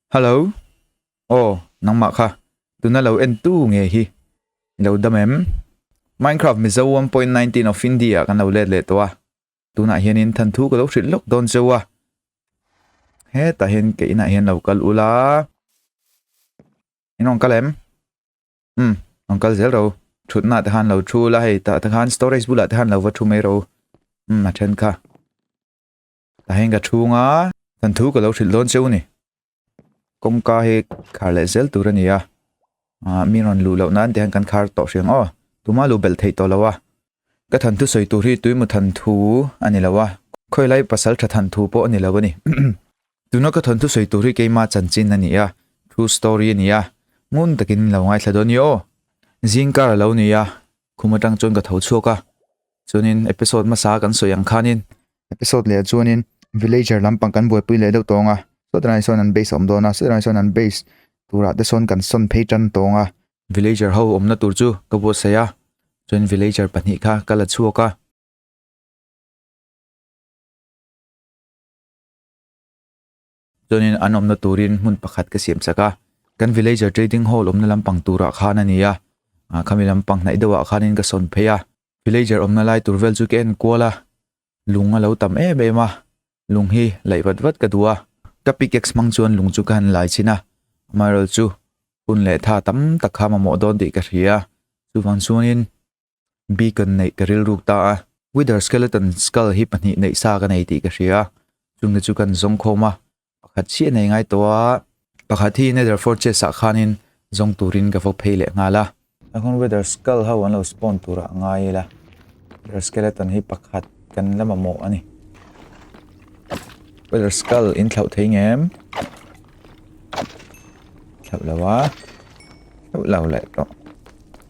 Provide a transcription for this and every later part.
Hallo! Aw, nangmah kha tuna lo en tu nge hi? I lo dam em? Minecraft Mizo one point nineteen of India kan lo let leh tawh a, tunah hianin than thu ka lo hrilh lawk dawn zeuh a, hetah hian ke inah hian lo kal ula, in rawn kal em? Umm, rawn kal zel ro, thutna te khan lo thu ula, hei tah te khan storage bulah te khan lo va thu mai ro, umm a then kha. a heng ka chhung a kan thu ka lo hrilh dawn cheu a ni kawngka hi khar leh zel tur a ni a ah mi rawn luh loh nan te hian kan khar tawh hreng aw tumah luh belh theih tawh lo a ka than thu sawi tur hi tuimaw than thu a ni lo a khawi lai pasal tha than thu pawh a ni lo a ni tuna ka than thu sawi tur hi keima chanchin a ni a true story a ni a ngun takin lo ngaithla dawn ni aw zingkar a lo ni a khum atang chuan ka tho chhuak a chuanin episode hmasa kan sawi ang khanin episode leh ah chuanin villager lampang kan buaipui leh deuh tawng a saw te hnai sawn an base a awm dawn a saw te hnai sawn an base turah te sawn kan sawn phei tan tawng a villager ho awmna tur chu ka buatsaih a chuan villager pahnih kha ka la chhuak a. Chuanin an awmna turin hmun pakhat ka siam chak a, kan Villager Trading Hall awmna lampang turah khan a ni a, khami lampang hnaih deuhah khanin ka sawn phei a. Villager awmna lai tur vel chu ka en kual a, lung a lo tam em em a, lung hi laih vat vat ka duh a. Ka pickaxe hmang chuan lung chu ka han lai chhin a, amaherawhchu hun leh tha tam tak kha mamawh dawn tih ka hria a, chuvang chuanin beacon neih ka rilru ta a, wither skeleton skull hi pahnih neih sa ka nei tih ka hria, chumi chu kan zawng khawm a, pakhat chiah nei ngai tawh a, pakhat hi nether fortress ah khanin zawng turin ka va phei leh nghal a. A hun wither skull ho an lo spawn turah a ngai ila, wither skeleton hi pakhat kan la mamawh a ni, wither skull in thlauh thei nge em? Thlauh lo a, thlauh lo leh tawh.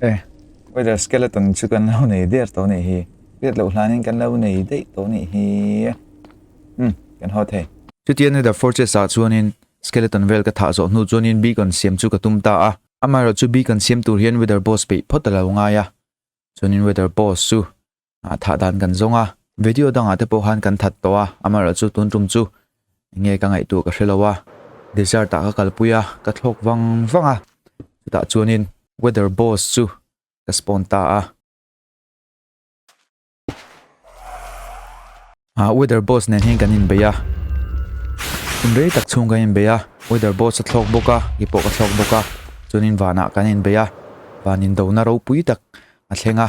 Eh, whether skeleton chu kan lo nei der to nei hi. Tiat lo hlanin kan lo nei dei to nei hi. Hmm, kan ho thei. Chu tian ni da fortress a chuanin skeleton vel ka thah zo hnu chuanin beacon siam chu ka tum ta a. Amaherawh chu beacon siam tur hian weather boss peih phawt a lo ngai a. Chuanin weather boss chu a thah dan kan zawng a video dangah te pawh khan kan that tawh a amaherawhchu chu tun tum chu enge ka ngaih tur ka hre lo a desert ah ka kalpui a ka thlawk vang vang a chutah chuanin weather boss chu ka spawn ta a. A weather boss nen hian kan in bei a in rei tak chhung kan in bei a weather boss a thlawk bawk a i pawh ka thlawk bawk a chuanin vanah kan in bei a van in do na ropui tak a thleng a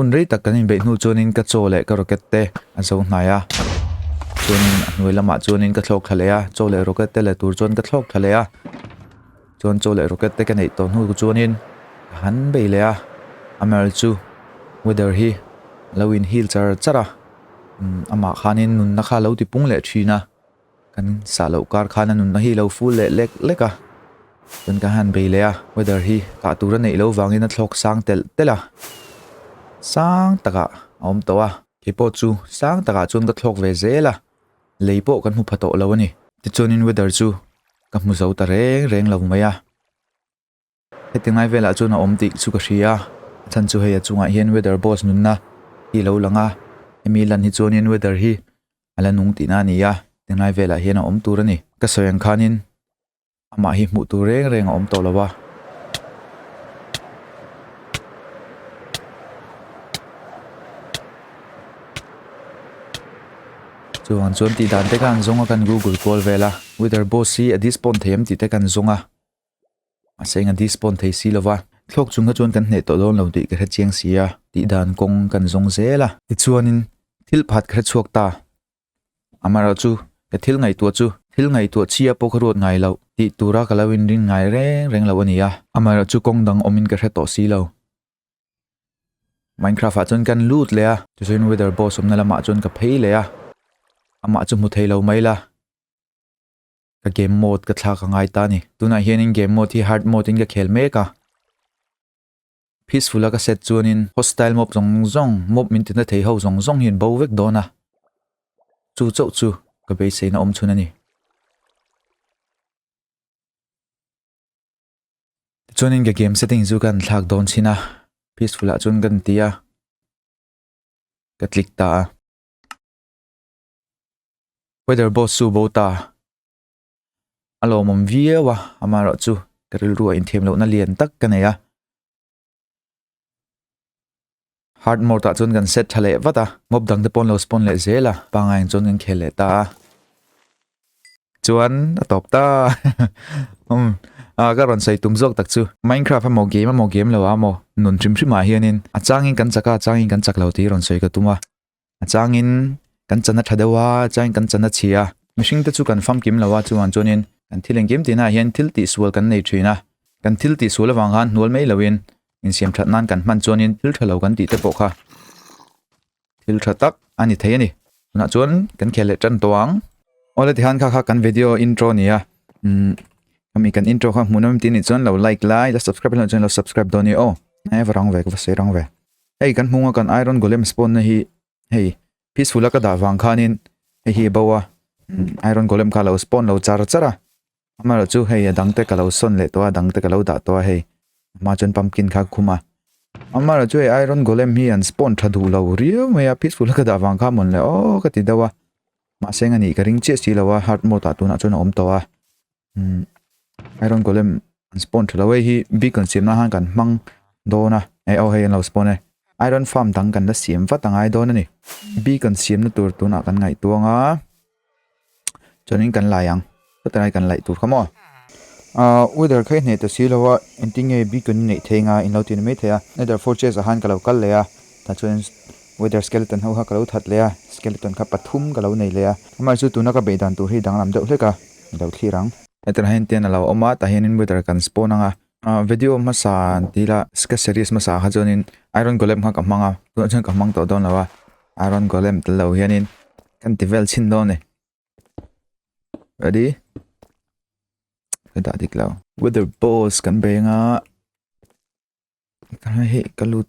Hun rei tak kan inbeih hnu chuanin ka chaw leh ka rocket te a zo hnai a. Chuanin a hnuai lamah chuanin ka thlawk thla leh a, chaw leh rocket te leh tur chuan ka thlawk thla leh a. Chuan chaw leh rocket te ka neih tawh hnu chuanin ka han bei leh a. Amal chu weather hi a lo inhil char char a, amah khanin nunna kha a lo ti pung leh thin a. Kan sah loh kar khan a nunna hi lo ful leh lek lek a. Chuan ka han bei leh a, weather hi kah tur a neih loh vangin a thlawk sang telh telh a. Sang takah a awm tawh a. Keipawh chu sang takah chuan ka thlawk ve zel a, lei pawh kan hmu pha tawh lo a ni. Tichuanin weather chu ka hmu zo ta reng reng lo mai a. Heti ngai velah chuan a awm tih chu ka hria. A chhan chu hei a chungah hian weather boss nunna hi a lo lang a, hemi lan hi chuanin weather hi a la nung tihna a ni a, heti ngai velah hian a awm tur a ni. Ka sawi ang khanin amah hi hmuh tur reng reng a awm tawh lo a. Chuvang chuan tih dan te khan zawng a kan Google kual vel a, weather boss hi a disappoint thei em tih te kan zawng a. A seng a disbond thei si lo va, thlawk chunga chuan kan hneh tawh dawn lo tih ka hre chiang si a, tih dan kawng kan zawng zel a. Tichuanin thil pakhat ka hre chhuak ta, amaherawh chu he thil ngaihtuah chu thil ngaihtuah chhia pawh ka ruat ngai loh tih tura ka lo inrin ngai reng reng lo a ni a. Amaherawh chu kawng dang awmin ka hre tawh si lo. Minecraft-ah chuan kan lut leh a. Tichuan Wither Boss awmna lamah chuan ka phei leh a, amah chu hmu thei lo mai la. ka game mode ka thlak a ngai ta a ni tunah hianin game mode hi hard mode in ka khel mek a peaceful a ka set chuanin hostile mob zawng zawng mob min ti na thei ho zawng zawng hian bo vek dawn a chu chauh chu ka base in a awm chhun a ni chuanin ka game setting chu kan thlak dawn chin a peaceful a chuan kan ti a ka click ta a Weather boss chu bo ta a lawmawm viau a, amaherawh chu ka rilruah inthiam lohna lian tak ka nei a. Hard mode ah chuan kan set tha leh vat a, ngawp dang te pawh an lo spawn leh zel a, pangngai in chuan kan khel leh ta a. Chuan a tawp ta umm a ka rawn sawi tum zawk tak chu. Minecraft emaw game emaw game lo ah emaw nun hrim hrim ah hian in a changin kan chak a a changin kan chak lo tih hi rawn sawi ka tum a. a changin kan chana tha deuh a changin kan chana chhi a mihring te chu kan famkim lo a chuvang chuanin kan thil engkim tihna ah hian thil tihsual kan nei thin a kan thil tihsual avang khan hnual mai loin insiam that nan kan hman chuanin thil tha lo kan tih te pawh kha thil tha tak a ni thei a ni tunah chuan kan khel leh tan tawh ang ola tihan kha kha kan video intro nia um kami kan intro kha hmuhnawm tin ni chuan lo like lai la subscribe lo chuan lo subscribe dawn ni aw nai varang ve ka va sei rang ve Hei kan hmung a kan iron golem spawn na hi hei peaceful a ka dah vang khan in hei hi bo a iron golem kha lo spawn lo char char a ama lo chu hei a dang te ka lo sawn leh tawh a dang te ka lo dah tawh a hei ama chuan pumpkin kha ka khum a ama lo chu hei iron golem hi an spawn tha duh lo riau mai a peaceful a ka dah vang kha mon leh aw ka ti deuh a mahse eng a nih ka ring chiah si lo a heart mode ah tunah chuan a awm tawh a umm iron golem an spawn tha lo hei hi bik rawn siam na han kan hmang dawn a hei aw hei an lo spawn e iron farm dang kan la siam vat angai dawn a ni bik an siam na tur tun ah kan ngaihtuang a chuan in kan la ang sawti ah kan laih tur kha maw ah weather kha i hneh ta si lo a engtin nge bik an inneih thei anga in lo ti ni mai thei a nether fortress ah han ka lo kal leh a. Tah chuan weather skeleton ho kha ka lo that leh a, skeleton kha pathum ka lo nei leh a. Amah chu tuna ka beih dan tur hi danglam deuh hlek a, i lo thlir ang. Hetah hian tent a lo awm a, tah hianin weather kan spawn ang a. Video hmasa an ti ila, sketch series hmasa kha chuanin iron golem kha ka hmang a, tunah chuan ka hmang tawh dawn lo a, iron golem tel lo hianin ka inti vel chhin dawn a ni. Ready? Ka dah dik lo. Weather balls kan bei ang a, ka hei ka lut.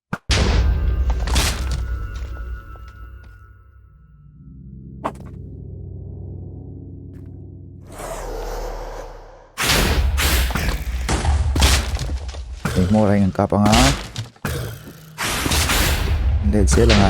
Hmawr a in kap anga Leh chial anga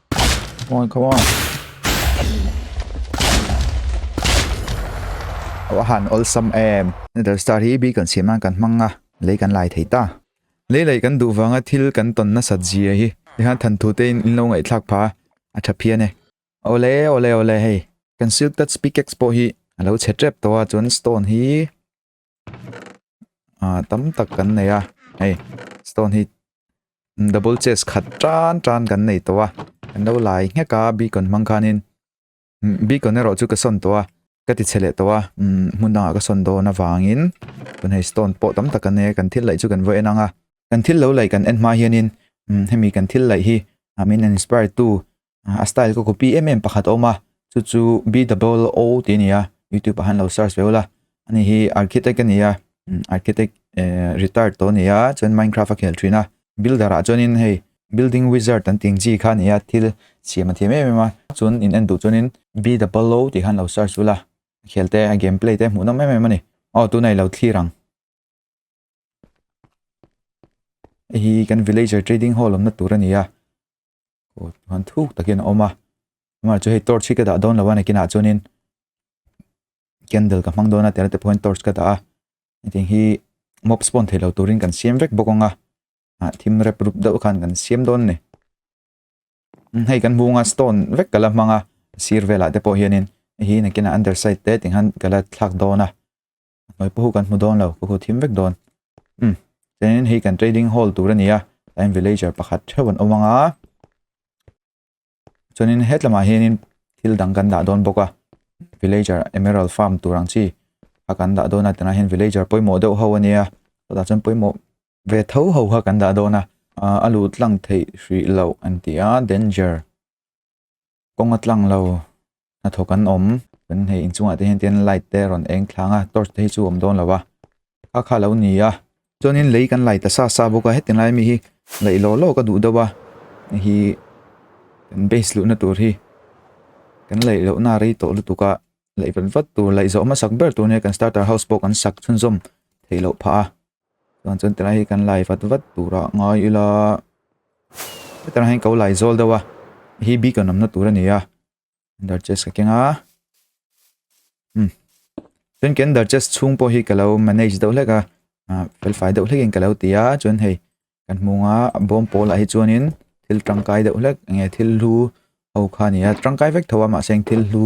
Come on, come on. Aw han awlsam em. Nether star hi bi kan siam nan kan hmang a. Lei kan lai thei ta. Lei lei kan duh vanga thil kan ton nasat zia hi. Hei han than thu tein in lo ngaih thlak pha a tha phian e. Ole ole ole hei. Kan silk touch pickaxe pawh hi a lo chhe tep tawh a chuan stone hi ahh tam tak kan nei a hei stone hi double chest khat tan tan kan nei tawh a kan lo lai ngek a beacon hmang khanin beacon erawh chu ka sawn tawh a ka ti chhe leh tawh a umm hmun dangah ka sawn dawn avangin tunah hi stone pawh tam tak kan nei a kan thil laih chu kan vawi en ang a kan thil lo laih kan en hma hianin umm hemi kan thil laih hi min an inspire tu a style ka copy em em pakhat a awm a chu chu B double O tih a ni a youtube ah hian lo search ve ula a ni hi architect a ni a architect eh retired tawh a ni a chuan minecraft a khel thin a builder ah chuanin hei building wizard an tih ang chi kha a ni a thil siam a thiam em em a chuan in en duh chuanin B double O tih khan lo search ula a khel te a game play te hmuh nawm em em a ni aw tuna i lo thlir ang hei hi kan villager trading hall awmna tur a ni a. aw han thuk takin a awm a amah chu hei torch hi ka dah dawn lo a nakinah chuanin candle ka hmang dawn a tihna te pawhin torch ka dah a hetiang hi mob spawn theihloh turin kan siam vek bawk ang a ah thim rep rup deuh khan kan siam dawn a ni hei kan hmung a stone vek kala hmang a sir velah te pawh hianin hei hi nakina underside te tih khan kala thlak dawn a Hnuai pawh kan hmu dawn lo, ka hua thim vek dawn. Umm, chuanin hei kan trading hall tur a ni a, tlaiin villager pakhat theuh an awm ang a. Chuanin hetlamah hianin thil dang kan dah dawn bawk a, villager emerald farm tur ang chi kha kan dah dawn a, tunah hian villager pawimawh deuh ho a nia, sawtah chuan pawimawh ve tho ho kha kan dah dawn a, a luh tlang theih hrih loh an ti a, danger. kawng a tlang lo hnathawk an awm kan hei inchungah te hian tin light te a rawn eng thlang a torch te hi chu a awm dawn lo va kha kha lo ni a chuanin lei kan lai ta sa sa bawk a heti lai ami hi laih lawh lawh ka duh deuh a hei hi kan base luhna tur hi kan laih lohna a rei tawh lutuk a laih vat vat tur laih zawh hmasak ber tur nen kan starter house pawh kan sak chhunzawm theih loh phah a. Chuan chuan tilai hi kan lai vat vat tura ngai ila heta rang hian ko lai zawl deuh a hi bik lo namna tur a ni a ender chest ka keng a um chuan kan ender chest chhung pawh hi ka lo manage deuh hlek a ah, fel fai deuh hlekin ka lo ti a chuan hei kan hmunga bawm pawl ah hi chuanin thil tangkai deuh hlek nge thil hlu ho kha ni a tangkai vek tho a mahse thil hlu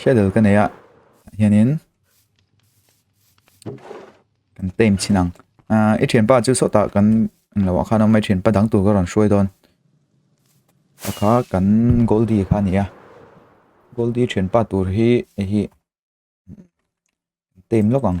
hriat loh ka nei a ah hianin kan claim chhin ang ah i thianpa chu sawta kan englo ah khan a awm a i thianpa dang tur ka rawn hruai dawn a kha kan goldi kha a ni a goldi thianpa tur hi hei hi claim lawk ang.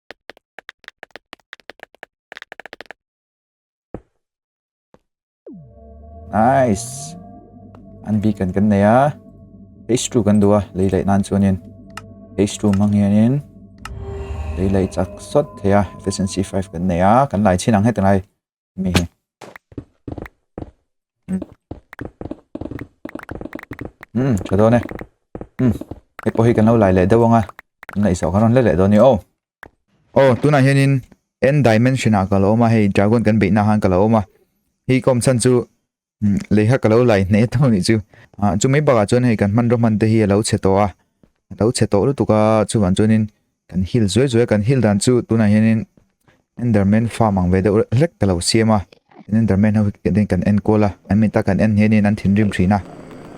Nice. An bi kan kan nei a. H2 kan du a. Lei lei nan chuanin H2 mang hianin lei lei chak sawt thei a. Efficiency 5 kan nei a. Kan lai chin ang heta ngai. um tha dawn e um hei pawh hi kan lo lai leh deuh ang a inneih sawh kha rawn hle leh dawn ni aw aw tunah hianin n dimension ah ka lo awm a hei dragon kan beihnaah khan ka lo awm a hi kawmchhan chu leiha ka lo lai hneh tawh nih chu ah chu mai bakah chuan hei kan hman rawh hman te hi a lo chhe tawh a a lo chhe tawh lutuk a chuvang chuanin kan hil zuai zuai a kan hil dan chu tunah hianin enderman farm ang ve deuh hlek ka lo siam a enderman ho kan enkawl a an min ta kan en ngei niin an thinrim thin a.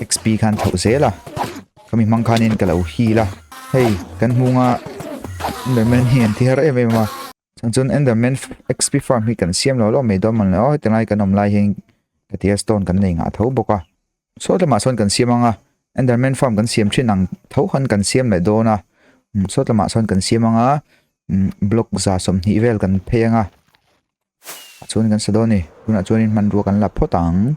xp khan thoh zel a khami hmang khanin ka lo heal a hei kan hmunga enderman hi an thihar em em a chang chuan enderman xp farm hi kan siam lo lo mai dawn man lo a heti lai kan awm lai hian ka tia stone kan nei ngah tho bawk a sawti lamah sawn kan siam anga enderman farm kan siam thin ang tho han kan siam leh dawn a sawti lamah sawn kan siam anga block za sawm hnih vel kan phei anga. A chhun kan sa dawn ni. Tunah chuan in hmanrua kan la phawt ang.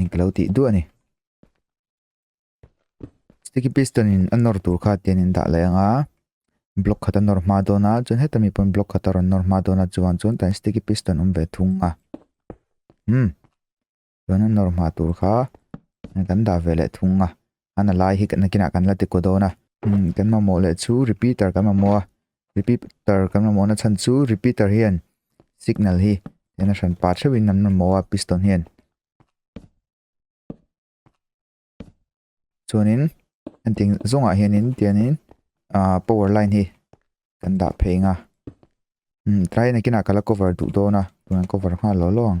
englo tih duah a ni sticky piston in a nawr tur kha tian in dah leh ang a block khat a nawr hma dawn a chuan heta mi pawn block khat a rawn nawr hma dawn a chuvang chuan tah hian sticky piston awm ve thung a umm chuan a nawr hma tur kha kan dah ve leh thung a. an a lai hi kan nakinah kan la ti ko dawn a. Kan mamawh leh chu repeater kan mamawh a, repeater kan mamawh na chhan chu repeater hian signal hi eng a hran pah theuhin an mamawh a piston hian. Chuanin engtin zawngah hianin tianin ahh power line hi kan dah phei anga tlai nakinah ka la cover duh dawn a, tun an cover nghal lo lo ang.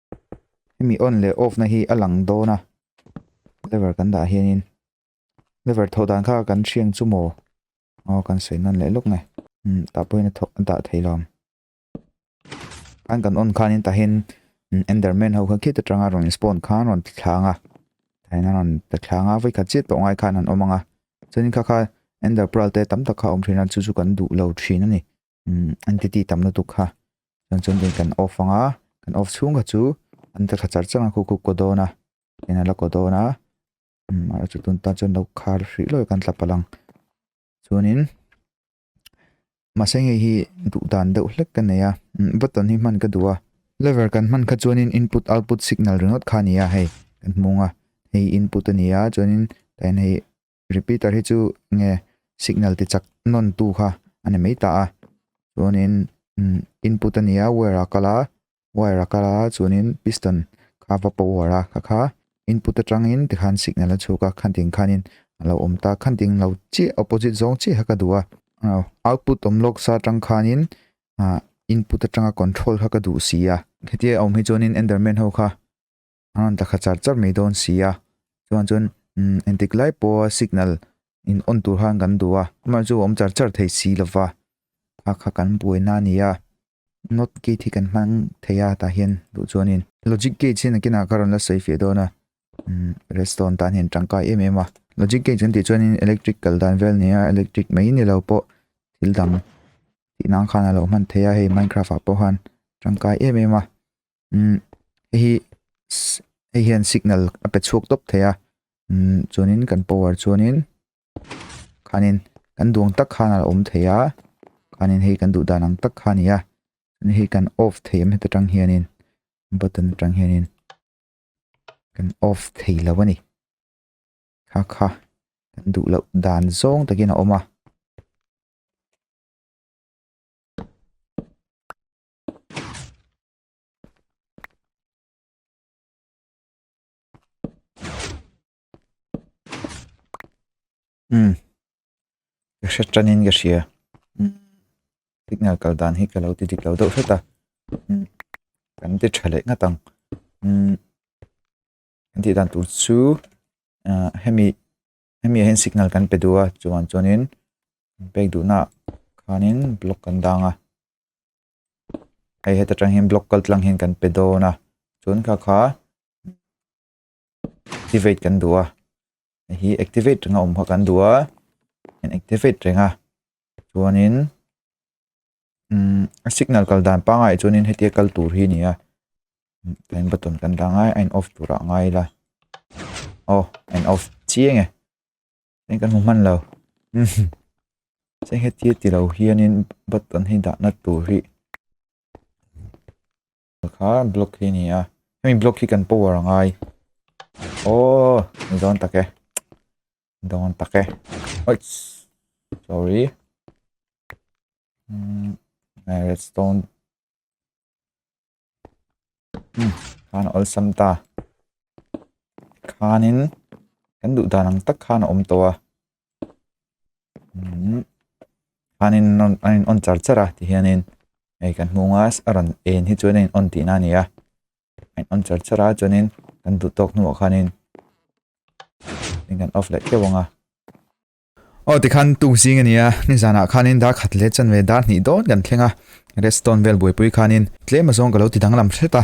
hemi on leh off na hi a lang dawn a lever kan dah hian in lever thawh dan kha kan hreng chu maw aw kan sawi nan leh lawk nge umm tah pawhin a thawh a dah thei lo an kan on khan in tah hian enderman ho kha khit atanga rawn in spawn khan rawn ti thlang a tah hian a rawn ta thlang a vai khat chiah tawh ngai khan an awm ang a chuan in kha kha ender pearl te tam tak kha awm thin a chu chu kan duh lo thin a ni. entity tam lutuk kha chuan chuan veng kan off anga kan off chhung kha chu an ta tha char char a khukhup kaw dawn a eng ala kaw dawn a umm a chu tun ta chuan lo khar hrih lawih kan tla palang chuanin mahse hei hi duh dan deuh hlek ka nei a umm button hi hman ka duh a lever kan hman kha chuanin input output signal ringawt kha a ni a hei kan hmung a hei input a ni a chuanin eng hei-- Repeater hi chu nge signal ti chak nawn tu kha a ni mai ta a. Chuanin input a nia wire a kal a, wire a kal a chuanin piston kha va paw huar a kha kha input atangin tikhan signal a chhuk a khan ting khanin a lo awm ta. Khan ting lo chiah opposite zawng chiah kha ka duh a. Output awm lawk sa atang khanin input atanga control kha ka duh si a. Hetia awm hi chuanin Enderman ho kha An ta kha char char mai dawn sia, chuan chuan umm entik lai pawha signal in on tur han kan duh a, amah chu a awm char char thei si lova, kha kha kan buaina a nia, not gate hi kan hmang thei a tah hian duh chuanin. Logic gate hi nakinah ka rawn la sawi feh dawn a, umm redstone tan hian tangkai em em a. Logic gate kan tih chuanin electric kal dan vel nia, electric mai ni lo pawh thil dang tihna ang khan a lo hman thei a, hei minecraft ah pawh han tangkai em em a, umm heihi sss hei hian signal a pe chhuak tawp thei a umm chuanin kan power chuanin khanin kan duang tak khan alo awm thei a khanin hei kan duh dan ang tak kha a ni a ni hei kan off thei em heta tang hianin button atang hianin kan off thei lo a ni kha kha kan duh loh dan zawng takin a awm a. umm ka hre tanin ka hria umm signal kal dan hi ka lo ti dik lo deuh hret a umm kan ti tha leh nghat ang umm kan tih dan tur chu ahh hemi-- hemi ah hian signal kan pe duh a chuan chuanin pek duhnaah khanin block kan dang a hei heta tang hian block kal tlang hian kan pe dawn a chuan kha kha activate kan duh a hei hi activate reng a awm kha kan duh a activate reng a chuanin. umm signal kal dan pangai chuanin hetia kal tur hi a ni a tlem button kan dah ngai a a in off tur ah ngai ila aw a in off chiang e heng kan hmu hman lo umm se hetia tilo hianin button hi dahna tur hi-- Kha block hi nia hemi block hi kan power angai oh ni dawn tak e ni dawn tak e oits sorry um redstone um khan all sam ta khanin kan duh dan ang tak khan a awm tawh a khanin a in awn char char a ti hianin hei kan hmung a a rawn en hi chuan a in awn tih na a ni a a in awn char char a chuanin kan duh tawk hnungah khanin hei kan off leh teuh ang a aw tikhan tûk zing a nia nizanah khanin dar khat leh chanve dar hnih dawn kan thleng a redstone vel buaipui khanin tlem azawng ka lo ti dang lam hret a.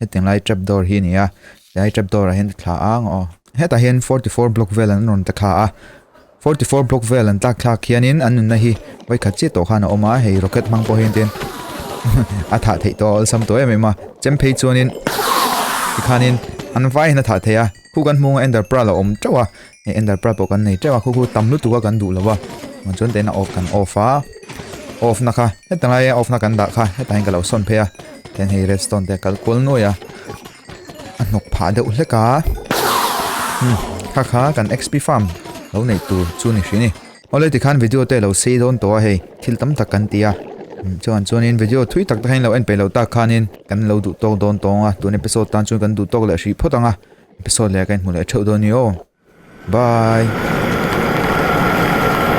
heti lai trap door hi nia helai trap door ah hian thla ang aw hetah hian forty four block vel an rawn ta thla a forty four block vel an tlak thlak hianin an nunna hi vaikhat chiah tawh khan a awm a hei rocket hmang pawh hian tihian a thah theih tawh a awlsam tawh em em a chemphei chuanin tikhanin an vai in a thah thei a. Khu kan hmawng a ender pearl a awm teuh a hei ender pearl pawh kan nei teuh a khu khu tam lutuk a kan duh lova chuan tah hian a off kan off a off na kha heta lai a off na kan dah kha hetah hian ka lo sawn phei a tah hian hei redstone te kal kual nuai a a hnawk phah deuh hlek a kha kha kan xp farm lo neih tur chu ni hri ni. Awle tikhan video te lo sei dawn tawh a hei, thil tam tak kan ti a. Chuan chuanin video thui tak takin lo en pe lo tak khanin kan lo duh tawk dawn tawng a, tun episode tan chuan kan duh tawk leh hrih phawt ang a, episode leh ka inhmu leh theuh dawn ni aw. Bye.